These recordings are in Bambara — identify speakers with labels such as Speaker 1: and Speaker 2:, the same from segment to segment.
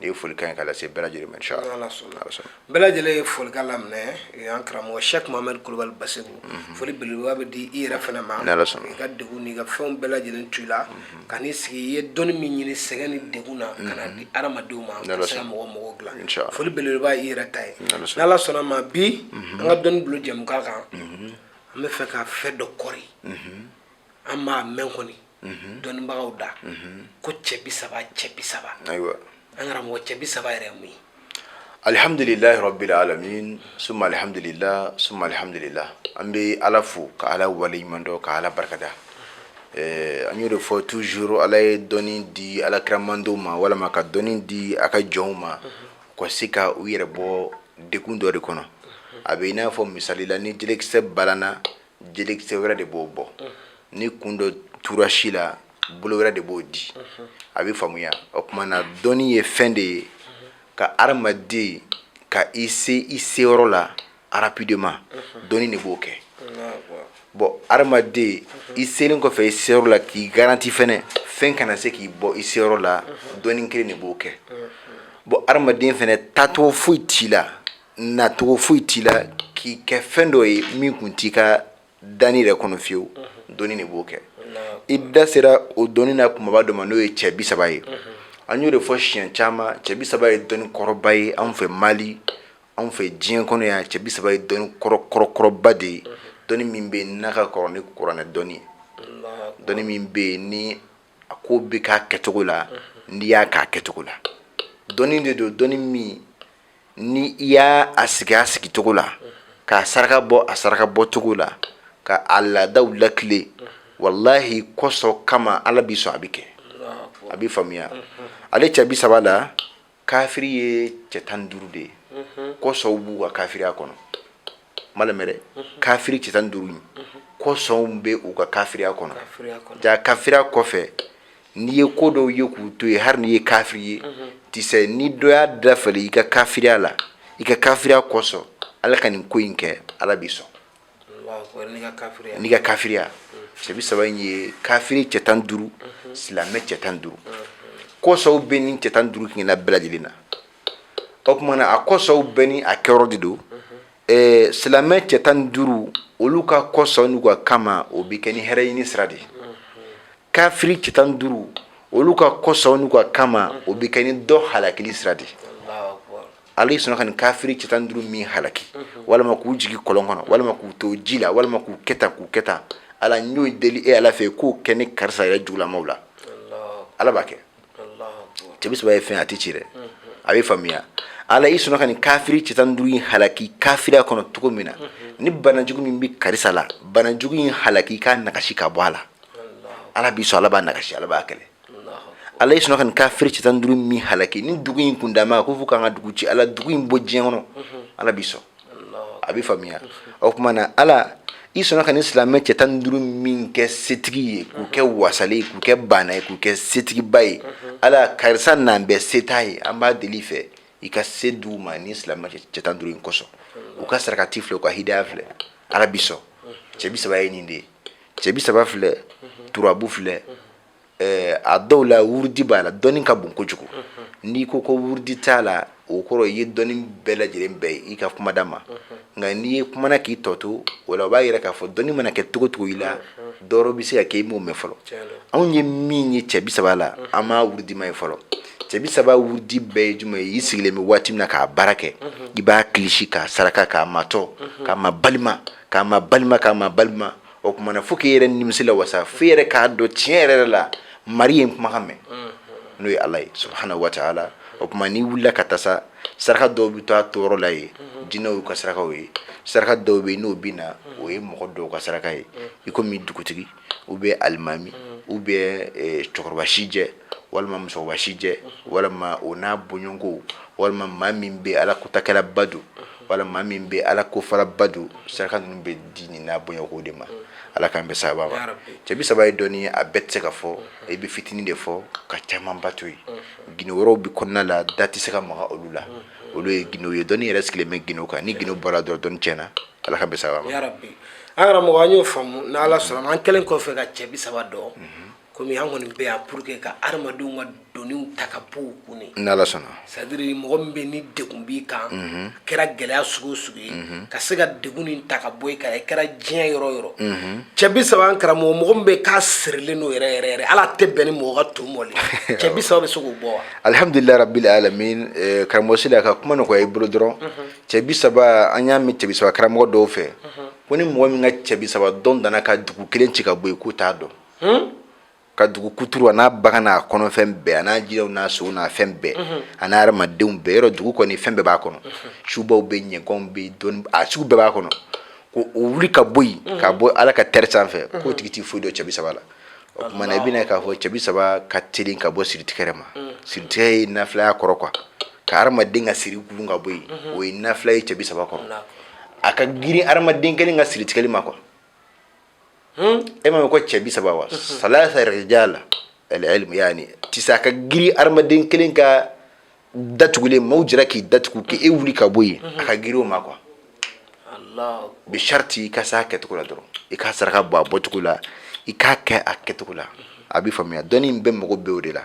Speaker 1: ne ye foli kan ka lase bɛɛ lajɛlen ma inshallah bɛɛ
Speaker 2: lajɛlen ye foli kan laminɛ an karamɔgɔ sɛki muhamadu kulubali basiru foli beleba bɛ di i yɛrɛ fana ma i ka degun ni i ka fɛnw bɛɛ lajɛlen to la ka n'i sigi i ye dɔnni min ɲini sɛgɛn ni degun na ka n'a di hadamadenw ma sera mɔgɔ mɔgɔw dilan foli beleba i yɛrɛ ta ye ni ala sɔnn'a ma bi an ka dɔnni bulon jɛmukan an b'a fɛ ka fɛn dɔ kɔri an b'a mɛn kɔni mhm. dɔnnibagaw da mhm. ko cɛ bi saba cɛ bi saba
Speaker 1: ayiwa an karamɔgɔ
Speaker 2: cɛ bi saba yɛrɛ mun
Speaker 1: ye alihamdulilahi rabbil alamin suma alihamdulila suma alihamdulila an bɛ ala fo ka ala waleɲuman dɔn ka ala barikada eh, an y'o de fɔ toujours ala ye dɔnni di ala kira mandiw ma walama ka dɔnni di a ka jɔnw ma mhm. k'u se ka u yɛrɛ bɔ degun dɔ de kɔnɔ a bɛ i n'a fɔ misali la ni jelekisɛ balanna jelekisɛ wɛrɛ de b'o bɔ ni kun dɔ tora si la bolo wɛrɛ de b'o di a bɛ faamuya o tuma na dɔnni ye fɛn de ye ka adamaden ka i se i seyɔrɔ la rapidement dɔnni de b'o kɛ bɔn adamaden i selen kɔfɛ i seyɔrɔ la k'i garanti fɛnɛ fɛn kana se k'i bɔ i seyɔrɔ la dɔnni kelen de b'o kɛ bɔn adamaden fɛnɛ taacogo foyi t'i la nacogo foyi t'i la k'i kɛ fɛn dɔ ye min tun t'i ka danni yɛrɛ kɔnɔ fiyewu dɔnni de b'o kɛ i da sera o dɔnni na kumaba dɔ ma n'o ye cɛ bi saba ye an y'o de fɔ siɲɛ caman cɛ bi saba ye dɔnni kɔrɔba ye anw fɛ mali anw fɛ diɲɛ kɔnɔ yan cɛ bi saba ye dɔnni kɔrɔkɔrɔba de ye dɔnni min bɛ n'a ka kɔrɔ ni kuranɛ dɔnni ye dɔnni min bɛ yen ni a ko bɛ k'a kɛcogo la n'i y'a k'a kɛcogo la dɔnni de don dɔnni min ni i y'a a sigi a sigicogo la k'a saraka bɔ a saraka bɔcogo la ka a laadaw latilen walahi kɔsɔn kama ala bɛ sɔn a bɛ kɛ a bɛ faamuya ale cɛ bi saba la kafiri ye cɛ tan duuru de ye kɔsɔn b'u ka kafiriya kɔnɔ malamɛrɛ kafiri cɛ tan duuru kɔsɔnw bɛ u ka kafiriya kɔnɔ ja kafiriya kɔfɛ n'i ye ko dɔw ye k'u to yen hali n'i ye kafiri ye tisɛ ni dɔ y'a dafali i ka kafiriya la i ka kafiriya kɔsɔn ala ka nin ko in kɛ ala b'i sɔn n'i ka kafiriya cɛ bi saba in ye kafiri cɛ tan duuru silamɛ cɛ tan duuru kɔsɔnw bɛ ni cɛ tan duuru kelenna bɛɛ lajɛlen na o tuma na a kɔsɔnw bɛɛ ni a kɛyɔrɔ de don silamɛ cɛ tan duuru olu ka kɔsɔn n'u ka kama o bɛ kɛ ni hɛrɛ ɲini sira de ye kafiri cɛ tan duuru olu ka kɔsɔn n'u ka kama o bɛ kɛ ni dɔ halakili sira de ye ala e sɔnna ka nin kafiri cɛ tan duuru min halaki walima k'u jigin kɔlɔn kɔnɔ walima k'u to ji la walima k'u kɛ tan k'u kɛ tan ala n y'o deli e ala fɛ ye k'o kɛ ni karisa yɛrɛ jugulamaw la ala b'a kɛ cɛ bi saba ye fɛn a tɛ ci dɛ a bɛ faamuya ala i sɔnna ka nin kafiri cɛ tan duuru in halaki kafiriya kɔnɔ cogo min na ni banajugu min bɛ karisa la banajugu in halaki k'a nagasi ka bɔ a la ala bɛ sɔn ala b'a nagasi ala b'a kɛlɛ ala i sɔnna ka nin kafiri cɛ tan duuru min halaki ni dugu in kun dama ko fo k'an ka dugu ci ala dugu in bɔ diɲɛ kɔnɔ ala bɛ sɔn a bɛ faamuya o tuma na ala i sɔnna ka nin silamɛ cɛ tan duuru min kɛ setigi ye k'u kɛ wasalen ye k'u kɛ baana ye k'u kɛ setigiba ye ala karisa n'an bɛɛ seta ye an b'a deli i fɛ i ka se d'u ma nin silamɛ cɛ tan duuru in kosɔn u ka sarakati filɛ u ka hidaya filɛ ala bɛ sɔn cɛ bi saba ye nin de ye cɛ bi saba filɛ turabu filɛ ɛɛ a dɔw la wurudi b'a la dɔnni ka bon kojugu n'i ko ko wurudi t'a la o kɔrɔ i ye dɔnni bɛɛ lajɛlen bɛn i ka kumada ma nka n'i ye kumana k'i tɔ to o la o b'a yira k'a fɔ dɔnni mana kɛ cogo cogo i la dɔ wɛrɛ bɛ se ka kɛ i m'o mɛn fɔlɔ anw ye min ye cɛ bi saba la an m'a wurudima ye fɔlɔ cɛ bi saba wurudi bɛɛ ye jumɛn ye i sigilen bɛ waati min na k'a baara kɛ i b'a kilisi k'a saraka k'a matɔ k'a ma balima k'a ma balima k'a ma balima o tuma na fo k'i yɛrɛ nimisi lawasa fo i yɛrɛ k'a dɔn tiɲɛ yɛrɛ la mari ye kumakan mɛn n'o ye ala ye subhanahu wa ta'ala o tuma n'i wulila ka taa sa saraka dɔw bɛ to a toyɔrɔ la yen jinɛw y'u ka sarakaw ye saraka dɔw bɛ yen n'o bɛ na o ye mɔgɔ dɔw ka saraka ye i komi dugutigi ou bien alimami ou bien cɛkɔrɔba sijɛ walima musokɔrɔba sijɛ walima o n'a bɔɲɔgɔnko walima maa min bɛ ala kotakɛla ba don walima maa min bɛ ala kofara ba don saraka ninnu bɛ di nin n'a bɔɲɔgɔnko de ma ala k'an bɛn sawaba ma cɛ bi saba ye dɔnni ye a bɛɛ tɛ se ka fɔ i bɛ fitinin de fɔ ka caman ba to yen gundo wɛrɛw bɛ kɔnɔna la da tɛ se ka maga olu la olu ye gundow ye dɔnni yɛrɛ sigilen bɛ gundow kan ni gundow bɔra dɔrɔn dɔnni tiɲɛna ala k'an bɛn sawaba ma an karamɔgɔ
Speaker 2: an y'o faamu n'ala sɔnna an kɛlen kɔfɛ ka cɛ bi saba dɔn kɔmi an kɔni bɛ yan pour que ka adamadenw ka doniw ta ka bɔ u kun de n'ala
Speaker 1: sɔnna c'est-à-dire mɔgɔ
Speaker 2: min bɛ ni degun b'i kan a kɛra gɛlɛya sugu o sugu ye ka se ka degun nin ta ka bɔ i kan i kɛra diɲɛ yɔrɔ o yɔrɔ cɛ bi saba an karamɔgɔ mɔgɔ min bɛ k'a sirilen don yɛrɛ yɛrɛ yɛrɛ hali a tɛ bɛn ni mɔgɔ ka to mɔli ye. cɛ bi saba bɛ se k'o bɔ wa alhamdulilayi
Speaker 1: rabbil alamin eh, karamɔgɔ sila ka kuma nɔgɔya i bolo dɔrɔn cɛ bi saba an y'a mɛn cɛ bi saba karamɔgɔ dɔw fɛ ko ni mɔgɔ min ka cɛ bi saba dɔn danna ka dugu kelen ci ka bɔ yen k'o t'a dɔn ka dugu kuturu a n'a bagan n'a kɔnɔfɛn bɛɛ a n'a jiriw n'a sow n'a fɛn bɛɛ a n'a hadamadenw bɛɛ yɔrɔ dugu kɔni fɛn bɛɛ b'a kɔnɔ subaw bɛ ɲaganw bɛ dɔnniya sugu bɛɛ b'a kɔnɔ ko o wuli ka bɔ yen ka bɔ ala ka terre sanfɛ k'o tigi tɛ foyi dɔn cɛ bi saba la o tuma i bɛna k'a fɔ cɛ bi saba ka teli ka bɔ siritigɛli ma siritigɛ ye nafila ye a kɔrɔ quoi ka hadamaden ka siri gulun ka bɔ yen o ye nafila ye cɛ bi saba kɔrɔ a ka girin hadamaden kelen ka siritigɛli ma quoi e ma ko cɛ bi saba wa salasa rijala alilmu yani tisa a ka giri hadamaden kelen ka datugulen maaw jira k'i datugu k' e wuli ka bɔ yen a ka giri o ma quoi ala bi sharti i ka s'a kɛcogo la dɔrɔn i ka saraka bɔ a bɔcogo la i k'a kɛ a kɛcogo la a bɛ faamuya dɔnni in bɛɛ mago b'o de la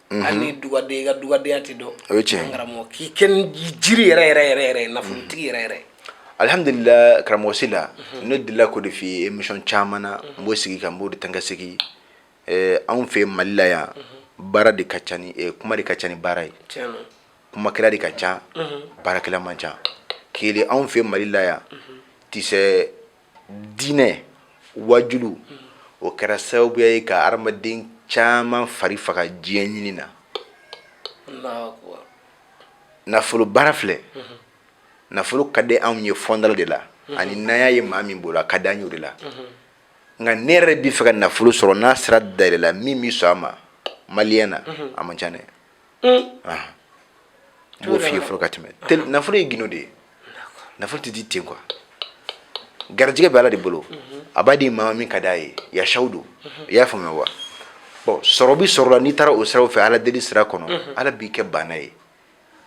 Speaker 2: Mhm. hali ni dugaden i ka dugadenya tɛ dɔn o ye tiɲɛ karamɔgɔ
Speaker 1: k'i
Speaker 2: kɛ ni jiri yɛrɛ yɛrɛ yɛrɛ yɛrɛ nafolotigi yɛrɛ yɛrɛ alhamdulilah
Speaker 1: karamɔgɔ sila mhm. ne delila k'o de f'i ye émission caman na mhm. n b'o sigi kan n b'o de taa ka segin eh, anw fɛ mali la yan baara de ka ca ni eh, kuma de ka ca ni baara ye kumakɛla de ka ca baarakɛla man ca kele anw fɛ mali la yan tisɛ diinɛ wajulu o kɛra sababuya ye ka hadamaden caman fari faga diɲɛ ɲini na nafolo baara filɛ nafolo ka di anw ye fɔ an da la de la ani n'an y'a ye maa min bolo a ka di an ye o de la nka ne yɛrɛ bɛ fɛ ka nafolo sɔrɔ n'a sira dayɛlɛla min bɛ sɔn a ma maliyɛn na a man ca dɛ n b'o f'i ye fɔlɔ ka tɛmɛ nafolo ye gindo de ye nafolo tɛ di ten quoi garijɛgɛ bɛ ala de bolo a b'a di maa min ka d'a ye yasaw don i y'a faamuya wa bon sɔrɔ bi sɔrɔ la n'i taara o siraw fɛ ala deli sira kɔnɔ ala b'i kɛ baana ye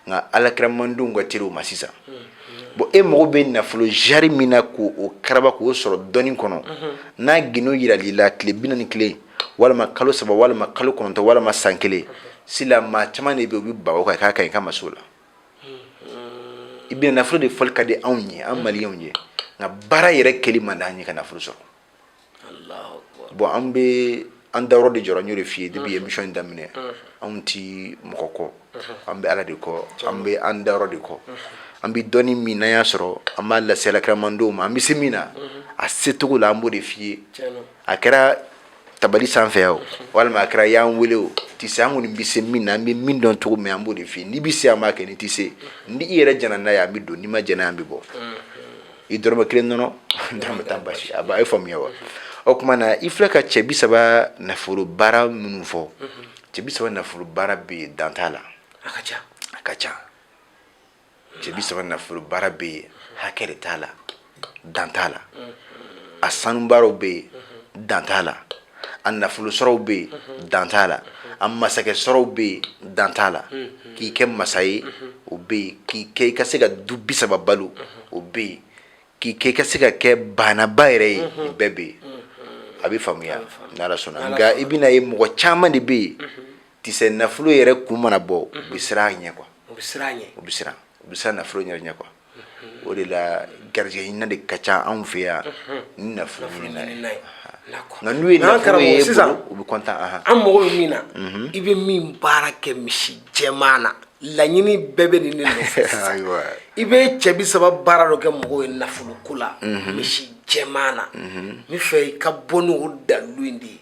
Speaker 1: nka alakiramandenw ka teli o ma sisan bon e mago bɛ nafolo zari min na k'o karaba k'o sɔrɔ dɔɔni kɔnɔ n'a gindo jiral'i la tile bi naani ni kelen walima kalo saba walima kalo kɔnɔntɔn walima san kelen sila maa caman de bɛ u bɛ bawo kan k'a ka ɲi ka ma la i bɛ nafolo de fɔli ka di anw ye an maliyanw ye nka baara yɛrɛ kɛli man d'an ye ka nafolo sɔrɔ bon an bɛ an dayɔrɔ de jɔra n y'o de f'i ye depuis émission in daminɛ anw ti mɔgɔ kɔ an bɛ ala de kɔ an bɛ an dayɔrɔ de kɔ an bɛ dɔnni min n'an y'a sɔrɔ an b'a lase alakiramandenw ma an bɛ se min na a secogo la an b'o de f'i ye a kɛra tabali sanfɛ o walima a kɛra y'an wele o tɛ se an kɔni bɛ se min na an bɛ min dɔn cogo min an b'o de f'i ye n'i bɛ se an b'a kɛ n'i tɛ se ni i yɛrɛ jɛna n'a ye an bɛ don n'i ma jɛn n'a ye an bɛ bɔ i dɔrɔmɛ kelen nɔnɔ dɔrɔmɛ tan basi a b'a ye faamuya wa o tuma na i filɛ ka cɛ bi saba nafolo baara minnu fɔ cɛ bi saba nafolo baara bɛ yen dan t'a la a ka ca a
Speaker 2: ka ca
Speaker 1: cɛ bi saba nafolo baara bɛ yen hakɛ de t'a la dan t'a la a sanubaaraw bɛ yen dan t'a la a nafolo sɔrɔw bɛ yen dan t'a la a masakɛ sɔrɔw bɛ yen dan t'a la k'i kɛ masa ye o bɛ yen k'i kɛ i ka se ka du bi saba balo o bɛ yen k'i kɛ i ka se ka kɛ baanaba yɛrɛ ye nin bɛɛ bɛ yen a bɛ faamuya n'ala sɔnna nka i bɛn'a ye mɔgɔ caman de bɛ yen Tisɛ nafolo yɛrɛ kun mana bɔ u bɛ siran a ɲɛ kuwa u bɛ siran ɲɛ u bɛ siran u bɛ siran nafolo yɛrɛ ɲɛ kuwa o de la garijɛgɛ ɲinina de ka ca anw fɛ yan ni nafolo ɲinina ye nka n'u ye nafolo ye sisan u bɛ kɔntan an an mago bɛ min
Speaker 2: na i bɛ min baara kɛ misi jɛman na laɲini bɛɛ bɛ nin de nɔfɛ i bɛ cɛ bi saba baara dɔ kɛ mɔgɔw ye nafolo ko la misi jɛman na n b'a fɛ i ka bɔ ni dalilu in de ye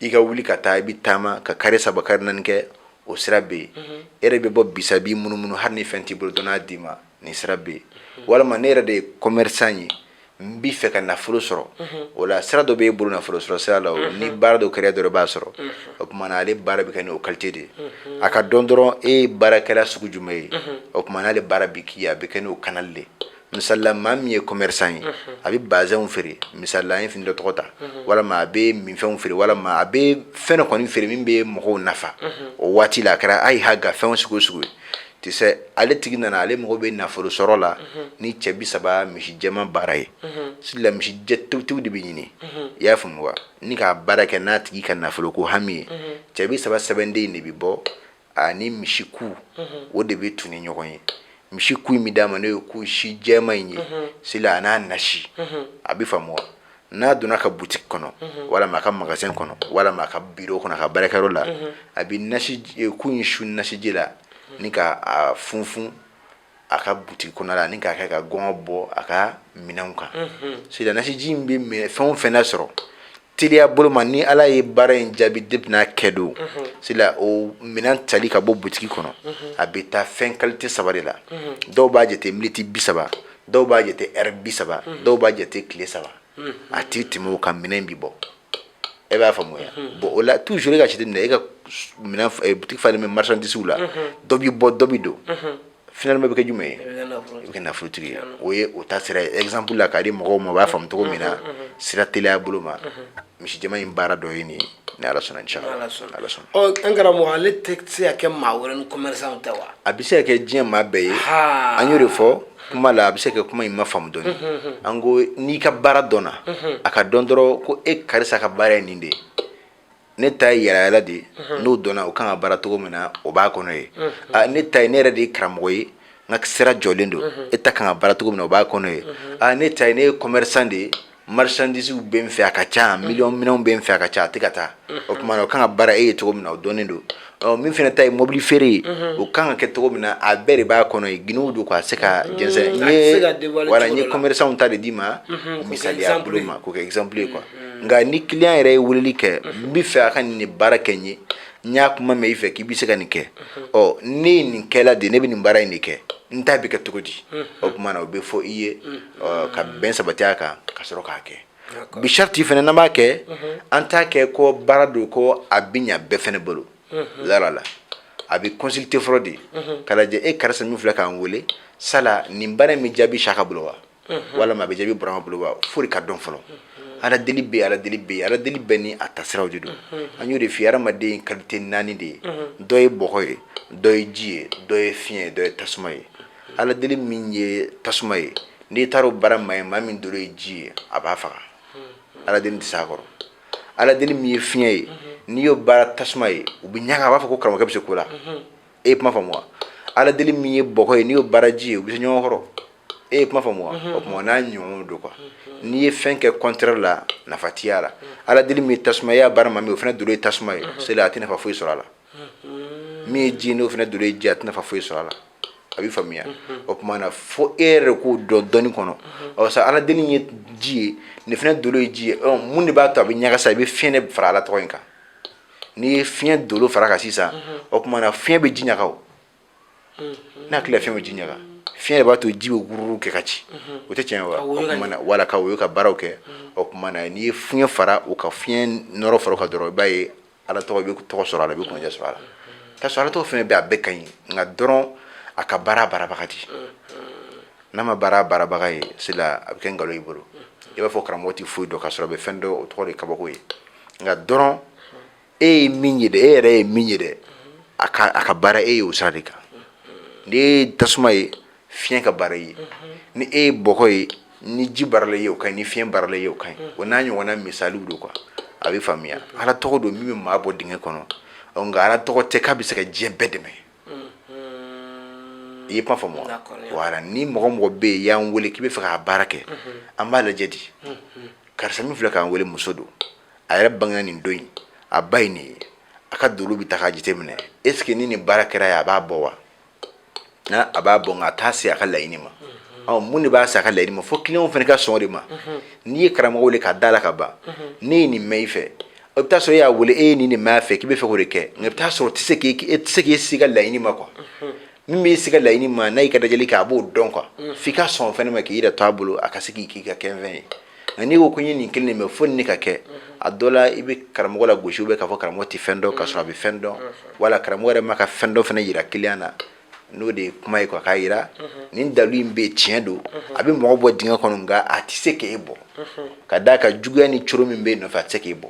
Speaker 1: i ka wuli ka taa i bɛ taama ka kari saba kari naani kɛ o sira bɛ yen e yɛrɛ bɛ bɔ bisa b'i munumunu hali ni fɛn t'i bolo dɔ n'a d'i ma nin sira bɛ yen walima ne yɛrɛ de ye kɔmɛrisan ye n b'i fɛ ka nafolo sɔrɔ o la sira dɔ b'e bolo nafolo sɔrɔ sira la o ni baara dɔ kɛra dɔrɔn i b'a sɔrɔ o tuma na ale baara bɛ kɛ ni o kalite de ye a ka dɔn dɔrɔn e ye baarakɛla sugu jumɛn ye o tuma na ale baara bɛ k'i ye a bɛ kɛ n'o kanali de ye misala maa min ye commerçant ye a bɛ bazɛnw feere misala an ye fini dɔ tɔgɔ ta walima a bɛ minfɛnw feere walima a bɛ fɛn dɔ kɔni feere min bɛ mɔgɔw nafa o waati la a kɛra ayi ha ga fɛnw sugu o sugu ye tisɛ ale tigi nana ale mago bɛ nafolo sɔrɔ la ni cɛ bi saba misi jɛman baara ye sila misi jɛ tewutewu de bɛ ɲini i y'a faamu wa ni k'a baara kɛ n'a tigi ka nafolo ko hami ye cɛ bi saba sɛbɛnden de bɛ bɔ ani misi ku o de bɛ tugu ni ɲɔgɔn ye misi ku in bɛ d'a ma n'o ye ku si jɛman in ye sila a n'a nasi a bɛ faamu wa n'a donna a ka butiki kɔnɔ walima a ka magazɛn kɔnɔ walima a ka biro kɔnɔ a ka baarakɛyɔrɔ la a bɛ ku in su nasiji la ni k'a funfun a ka butiki kɔnɔ la ani k'a kɛ ka gɔngɔn bɔ a ka minɛnw kan sila nasiji in bɛ fɛn o fɛn nasɔrɔ teliya bolo ma ni ala ye baara in jaabi de bɛna kɛ don sila o minɛn tali ka bɔ butiki kɔnɔ a bɛ taa fɛn kalite saba de la dɔw b'a jate miniti bi saba dɔw b'a jate ɛri bi saba dɔw b'a jate tile saba a tɛ tɛmɛ o kan minɛn bɛ bɔ e b'a faamuya bon o la tuzuru i k'a jateminɛ e ka butiki falen bɛ marisandisiw la dɔ bɛ bɔ dɔ bɛ don finaliman bɛ kɛ jumɛn ye i bɛ kɛ nafolotigi ye o ye o ta sira ye ɛgizanpu la k'a di mɔgɔw ma u b'a faamu cogo min na sira teliya bolo ma misi jɛman in baara dɔ ye nin ye ni ala sɔnna an karamɔgɔ ale tɛ
Speaker 2: se ka kɛ maa wɛrɛ ni kɔmɛrisan tɛ wa a bɛ se ka kɛ diɲɛ
Speaker 1: maa bɛɛ ye an y'o de fɔ kuma la a bɛ se ka kɛ kuma in ma faamu dɔɔni an ko n'i ka baara dɔnna a ka dɔn dɔrɔn ko e karisa ka baara ye nin de ye ne ta ye yaalayaala de ye n'o dɔnna o kan ka baara cogo min na o b'a kɔnɔ ye ne ta ye ne yɛrɛ de ye karamɔgɔ ye n ka sira jɔlen don e ta kan ka baara cogo min na o b'a kɔnɔ ye ne ta ye ne ye kɔmɛrisan de ye marchandisew bɛ n fɛ a ka ca mi minɛnw bɛ n fɛ a ka ca a tɛ ka taa o tuma o kan ka baara e ye cogo min na o dɔnnen don min fana ta ye mobili feere ye o kan ka kɛ cogo min na a bɛɛ de b'a kɔnɔ ye gw don k'a se ka jɛnsɛn n ye commerçantw ta de d'i ma misali bolo ma k'o kɛ exemple ye quoi nka ni client yɛrɛ ye weleli kɛ n bɛ fɛ a ka nin baara kɛ n ye n y'a kuma mɛn i fɛ k'i bɛ se ka nin kɛ ɔ ne ye nin kɛla de ne bɛ nin baara in de kɛ n ta bɛ kɛ cogo di o tuma o bɛ fɔ i ye ka bɛn sabati a kan ka sɔrɔ k'a kɛ bi sariti fana n'an b'a kɛ an t'a kɛ ko baara don ko a bɛ ɲɛ bɛɛ fana bolo la a bɛ consulter fɔlɔ de k'a lajɛ e karisa min filɛ k'an weele sa nin baara in bɛ jaabi saka bolo wa walima a bɛ jaabi burama bolo wa fo ka dɔn fɔlɔ ala deli bɛɛ ala deli bɛɛ ala deli bɛɛ ni a taasiraw de don an y'o de f'i ye hadamaden kalite naani de ye dɔ ye bɔgɔ ye dɔ ye ji ye dɔ ye fiɲɛ ye dɔ ye tasuma ye Ala deli min ye tasuma ye n'i taara o baara maa ye maa min dolo ye ji ye a b'a faga ala deli tɛ s'a kɔrɔ ala deli min ye fiɲɛ ye n'i y'o baara tasuma ye u bɛ ɲaga a b'a fɔ ko karamɔgɔkɛ bɛ se ko la e ye kuma faamu wa ala deli min ye bɔgɔ ye n'i y'o baara ji ye u bɛ se ɲɔgɔn kɔrɔ e ye kuma faamu wa o tuma n'a ɲɔgɔn don quoi n'i ye fɛn kɛ contraire la nafa tɛ ye a la ala deli min ye tasuma ye y'a baara maa min o fana dolo ye tasuma ye c'est là a tɛ nafa foyi sɔrɔ a la min ye ji o fana dolo ye ji a tɛ nafa foyi sɔrɔ a la a bɛ faamuya o tuma na fo e yɛrɛ k'o dɔn dɔnni kɔnɔ ɔ sa ala deli ye ji ye nin fana dolo ye ji ye mun de b'a to a bɛ ɲaga sa i bɛ fiɲɛ fara ala tɔgɔ in kan n'i ye fiɲɛ dolo fara a kan sisan o tuma na fiɲɛ bɛ ji ɲaga o n hakili la fiɲɛ bɛ ji ɲaga fiɲɛ de b'a to ji bɛ guru kɛ ka ci o tɛ tiɲɛ wa o tuma na wala ka woyo ka baaraw kɛ o tuma na n'i ye fiɲɛ fara o kan fiɲɛ nɔrɔ fara o kan dɔrɔn i b'a ye ala tɔgɔ bɛ tɔgɔ sɔrɔ a la i bɛ kunnaja sɔrɔ a la ka sɔrɔ ala tɔgɔ fɛn bɛ a bɛɛ ka ɲi nka dɔrɔn a ka baara baarabaga di n'a ma baara baarabaga ye c'est là a bɛ kɛ nkalon i bolo i b'a fɔ karamɔgɔ tɛ foyi dɔn ka sɔrɔ a bɛ fɛn dɔn o tɔgɔ de kabako ye nka dɔrɔn e ye min ye dɛ e yɛrɛ ye min ye dɛ a ka baara e ye o sira de kan n'i ye tasuma ye fiɲɛ ka baara ye ni e ye bɔgɔ ye ni ji baarala ye o ka ɲi ni fiɲɛ baarala ye o ka ɲi o n'a ɲɔgɔnna misaliw don quoi a bɛ faamuya ala tɔgɔ don min bɛ maa bɔ dingɛ kɔnɔ nka ala tɔgɔ tɛ k'a bɛ se ka diɲɛ bɛɛ dɛmɛ i ye kuma faamu wa wala ni mɔgɔ mɔgɔ bɛ yen y'an wele k'i bɛ fɛ k'a baara kɛ an b'a lajɛ di karisa min filɛ k'an wele muso don a yɛrɛ bangena nin don in a ba ye nin ye a ka dolo bɛ ta k'a jateminɛ est ce que ni nin baara kɛra a ye a b'a bɔ wa a b'a bɔ nka a t'a se a ka laɲini ma mun de b'a se a ka laɲini ma fo client fana ka sɔn o de ma n'i ye karamɔgɔ weele k'a da la ka ban ne ye nin mɛn i fɛ o bɛ taa sɔrɔ e y'a weele e ye nin de mɛn a fɛ k'i bɛ fɛ k'o de kɛ nka i bɛ taa sɔrɔ o tɛ se k'i s'i ka laɲini ma quoi min b'i s'i ka laɲini ma n'a y'a ka lajɛli kɛ a b'o dɔn quoi f'i ka sɔn fana ma k'i yɛrɛ to a bolo a ka se k'i k'i ka kɛfɛn ye nka n'i ko ko n ye nin kelen de mɛn fo nin de ka kɛ a dɔ la i bɛ karamɔgɔ lagosi bɛ k'a fɔ karamɔgɔ tɛ fɛn dɔn k'a sɔrɔ a bɛ fɛn dɔn wala karamɔgɔ yɛrɛ ma ka fɛn dɔ fana yira kiliyan na n'o de ye kuma ye quoi k'a yira nin dalu in bɛ tiɲɛ don a bɛ mɔgɔ bɔ dingɛ kɔnɔ nka a tɛ se k'e bɔ ka d'a kan juguya ni coro min bɛ nɔfɛ a tɛ se k'e bɔ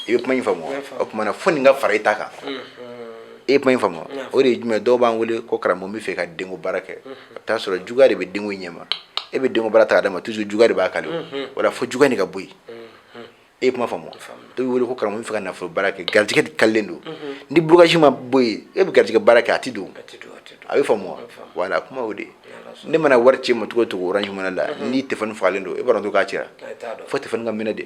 Speaker 1: i bɛ kuma in faamu o tuma na fo nin ka fara i ta kan e ye kuma in faamu o de ye jumɛn dɔw b'an wele ko karamɔgɔ bɛ fɛ ka denko baara kɛ a bɛ t'a sɔrɔ juguya de bɛ denko ɲɛma e bɛ denko baara ta ka d'a ma toujours juguya de b'a kali voilà fo juguya nin ka bɔ yen e ye kuma faamu dɔw bɛ wele ko karamɔgɔ bɛ fɛ ka nafolo baara kɛ garijɛgɛ de kalilen don ni blocage ma bɔ yen e bɛ garijɛgɛ baara kɛ a tɛ don a bɛ faamu voilà kuma o de ne mana wari ci i ma cogo o cogo orange money la mhm. ni téléphone fagalen don e b'a dɔn k'a cira fo téléphone ka mɛnɛ de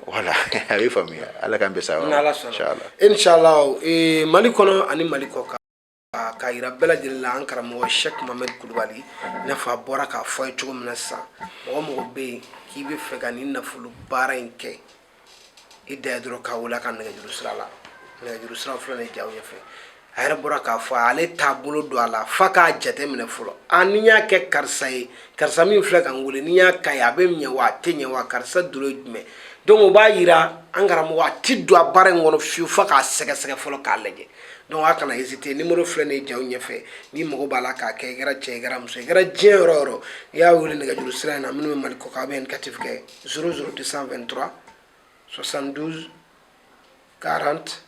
Speaker 1: voilà a bɛ faamuya ala k'an bɛ sa inshallah
Speaker 2: inshallah eh, mali kɔnɔ ani mali kɔkan k'a yira bɛɛ lajɛlen la an karamɔgɔ sɛk mamɛd kulubali i n'a fɔ a bɔra k'a fɔ aw ye cogo min na sisan mɔgɔ o mɔgɔ bɛ yen k'i bɛ fɛ ka nin nafolo baara in kɛ i dan ye dɔrɔn k'a wele a ka nɛgɛjuru sira la nɛgɛjuru sira filɛ nin ye jaw ɲɛfɛ a yɛrɛ bɔra k'a fɔ ale t'a bolo don a la f'a k'a jateminɛ fɔlɔ a ni n y'a kɛ karisa ye karisa min filɛ ka n wele ni n y'a ka ye a bɛ ɲɛ wa a tɛ ɲɛ wa karisa dolo ye jumɛn donc o b'a yira an karamɔgɔ a ti don a baara in kɔnɔ fiyewu f'a k'a sɛgɛsɛgɛ fɔlɔ k'a lajɛ donc a kana hésiter numéro filɛ nin ye jaw ɲɛfɛ n'i mago b'a la k'a kɛ i kɛra cɛ i kɛra muso i kɛra diɲɛ yɔrɔ o yɔrɔ i y'a wele nɛgɛjuru sira in na minnu bɛ mali kɔkan a bɛ indicatif kɛ 00223 72 40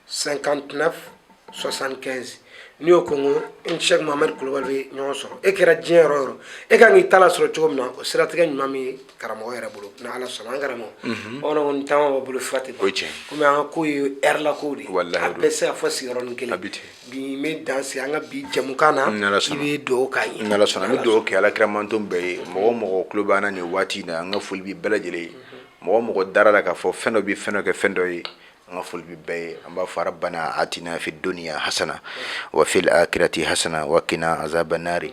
Speaker 2: 59 75 n'i y'o kɔnkɔn i ni sɛk mahamadu kulubali bɛ ɲɔgɔn sɔrɔ e kɛra diɲɛ yɔrɔ o yɔrɔ e ka kan k'i ta la sɔrɔ cogo min na o siratigɛ ɲuman min ye karamɔgɔ yɛrɛ bolo ni ala sɔnna an karamɔgɔ bamananw kɔni caman b'a bolo fura tɛ ban komi an ka ko ye heure la kow de ye a bɛɛ tɛ se ka fɔ sigiyɔrɔnin kelen Bi n bɛ dan sigi an ka bi jɛmukan na, i bɛ dugawu k'an ye, ni Ala sɔnna, n bɛ dugawu
Speaker 1: kɛ alakira mantɔn bɛɛ ye mɔgɔ o mɔgɔ tulo b'an na nin waati in na an ka foli bɛ bɛɛ lajɛlen ye mɔgɔ o mɔgɔ dara a la k'a fɔ fɛn dɔ bɛ fɛn dɔ kɛ fɛn dɔ ye an ka foli bɛ bɛɛ ye an b'a fɔ rabbana atina fi duniya hasana wa fil akirati hasana wa kina azaba nari